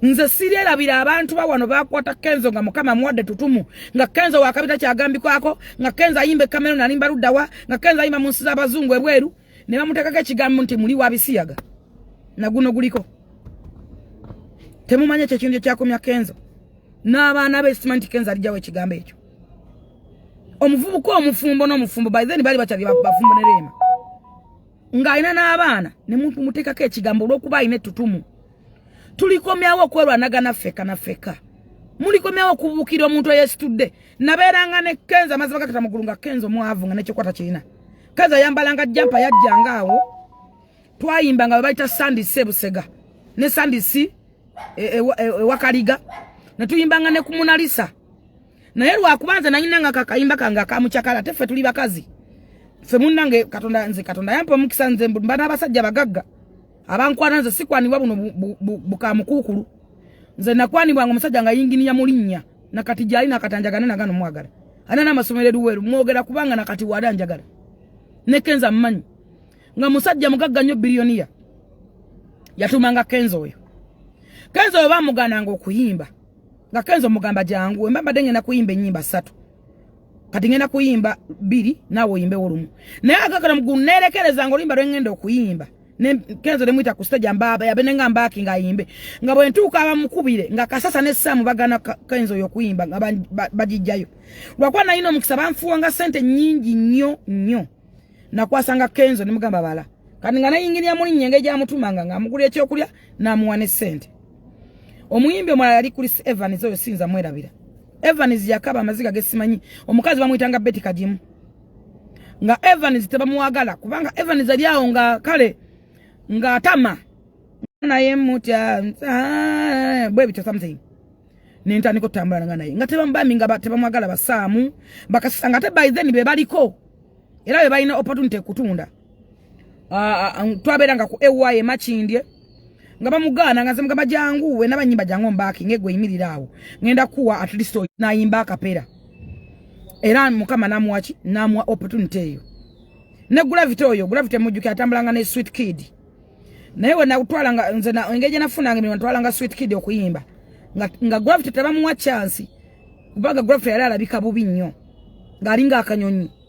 nze sirerabira abantu bawano bakwata kenzo nga mukama mwadde tutumu nga kenzo wakabita kyagambikwako nga kenzo ayimba ekamero nalimba luddawa nga kenzo ayimba mu nsi z'abazungu ebweru ne bamuteekako ekigambo nti muli wabisiyaga naguno guliko temumanya ekyo ekintu ekyakomya kenzo n'abaana be simanyi nti kenzo alijjawo ekigambo ekyo omuvubuka omufumbo n'omufumbo by then bali bakyali bafumbo ne reema ng'alina n'abaana ne muteekako ekigambo olw'okuba alina ettutumu tulikomyawo okwerwanagana ffeka na ffeka mulikomyawo okubuukira omuntu eyesitudde nabeeranga ne kenza amazima gakata mugulu nga kenza omwavu nga nekyokwata kirina kenza ayambalanga jampa yajjanga awo twayimba nga webayita sandi sebusega ne sandi si ewakaliga e, e, e, ne tuyimbanga ne ku munalisa naye lwakuba nze nanyina nga kakayimba kange akamucakala ate ffe tuli bakazi ffe munnange katonda nze katonda yampa omukisa nze mba n'abasajja bagagga abankwana nze sikwanibwa buno bukamukuukulu nze nakwanibwa nga omusajja nga yinginiya mulinnya nakati gyali nakati anjagane nagano mwagala ana namasomero eruweru mwogera kubanga nakati wali anjagala ne kenza mmanyi nga musajja mugagga nnyo biliyoniya yatumanga kenza oyo kenza oyo bamugananga okuyimba nga kenza omugamba jangu wemba mbadde ngenda kuyimba ennyimba ssatu kati ngenda kuyimba biri nawe oyimbe olumu naye agakala mugunerekereza nga oluyimba lwengenda okuyimba kenzo nemwita ku stage amba yabe nenga mbaki nga yimbe nga bwentuka abamukubire nga kasasa ne samu bagana kenzo yokuyimba nga bajijjayo lwakuba nalina omukisa banfuwa nga sente nyingi nnyo nnyo nakwasanga kenzo nemugamba bala kati nga nayingiria muli nyenge gyamutumanga nga amugula ekyokulya namuwa ne sente omuyimbi omulala yali kuli evans oyo siyinza mwerabira Evans yakaba amaziga gesimanyi omukazi bamuyitanga Betty Kajimu nga Evans tebamuwagala kubanga Evans ali awo nga kale nga atama naye mutya bwe bityo something nentandika okutambula nga naye nga tebamubambi nga tebamwagala basaamu bakasanga ate by then be baliko era be balina opportunity kutunda ah, ah, twabeeranga ku ewa ye makindye nga bamugaana nga zemugamba jangu wena banyimba jangu mbaaki ngegwe yimirira awo ngenda kuwa at least nayimba akapera era mukama namuwaki namuwa opportunity eyo ne gravity oyo gravity mujjuki atambulanga ne sweet kid naye wena kutwalanga nze na engeje nafunanga emirimu natwalanga sweet kid okuyimba nga, nga gravity tebamuwa chance kubanga gravity yali alabika bubi nnyo ng'alinga akanyonyi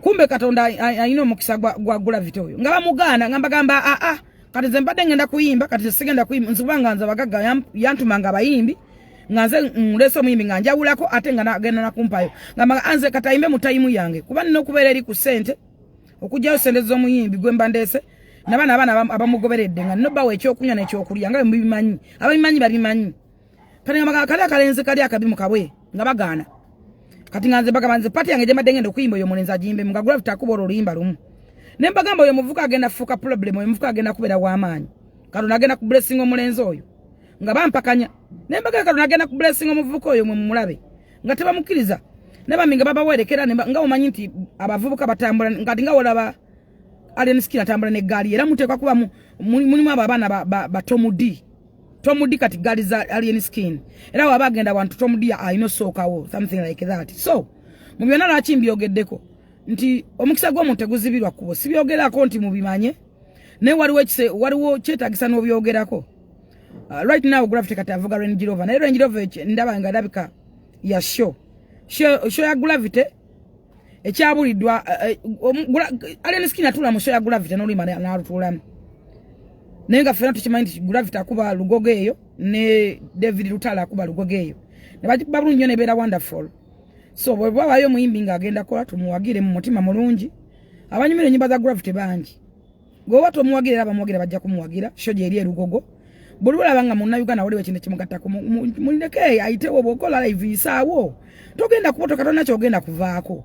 kumbe katonda ayina omukisa gwa gulavity oyo nga bamugaana nga mbagamba aa ah, ah, kati nze mbadde ngenda kuyimba kati nze sigenda kuyimba nzikuba nga nze abagagga yantuma nga abayimbi nga nze nleese omuyimbi nga njawulako ate nga nagenda nakumpayo nga mbaga anze ah, kati ayimbe mu tayimu yange kuba nina okubeera eri ku sente okugyayo sente z'omuyimbi gwe mba ndeese nabana abaana abamugoberedde nga nina obbawo ekyokunywa nekyokulya nga bwemubimanyi ababimanyi babimanyi kati nga magala kali akalenzi kali akabi mukabwe nga bagaana kati nga nze bagamba nze pati yange gyembadde ngenda okuyimba oyo omulenzi agimbemu nga gravity akuba olwo oluyimba lumu ne mbagamba oyo omuvuka agenda kufuuka problem oyo omuvuka agenda kubeera w'amaanyi kati onagenda ku blessing omulenzi oyo nga bampakanya ne mbagamba kati onagenda ku blessing omuvuka oyo mwe mumulabe nga tebamukkiriza ne bambi nga babawerekera nga omanyi nti abavubuka batambula kati nga olaba Alien Skill atambula ne gaali era muteekwa kuba mulimu abo abaana ba, ba, ba Tom D Tom D kati gaali za Alien Skin era waba agenda wantu Tom D alina osookawo something like that so mu byonna lwaki mbyogeddeko nti omukisa gw'omuntu teguzibirwa kubo sibyogerako nti mubimanye naye waliwo waliwo kyetagisa n'obyogerako uh, right now gravity kati avuga Range Rover naye Range Rover ndaba nga alabika ya show show ya gravity ekyabulidwa eh, eh, alien skin atula mu show ya gravity no limane na rutula naye nga fena tukimanyi nti gravity akuba lugogo eyo ne david lutala akuba lugogo eyo ne bati babulu nyone bera wonderful so bwe baba yo muimbi nga agenda kola tumuwagire mu mutima mulungi abanyumire nyimba za gravity bangi gwe watu omuwagira era bamuwagira bajja kumuwagira sho gyeri erugogo buli lwolaba nga munnayuganda waliwo ekintu kimugattako muleke ayitewo bwokola live yisaawo togenda kubotoka tolina kyogenda kuvaako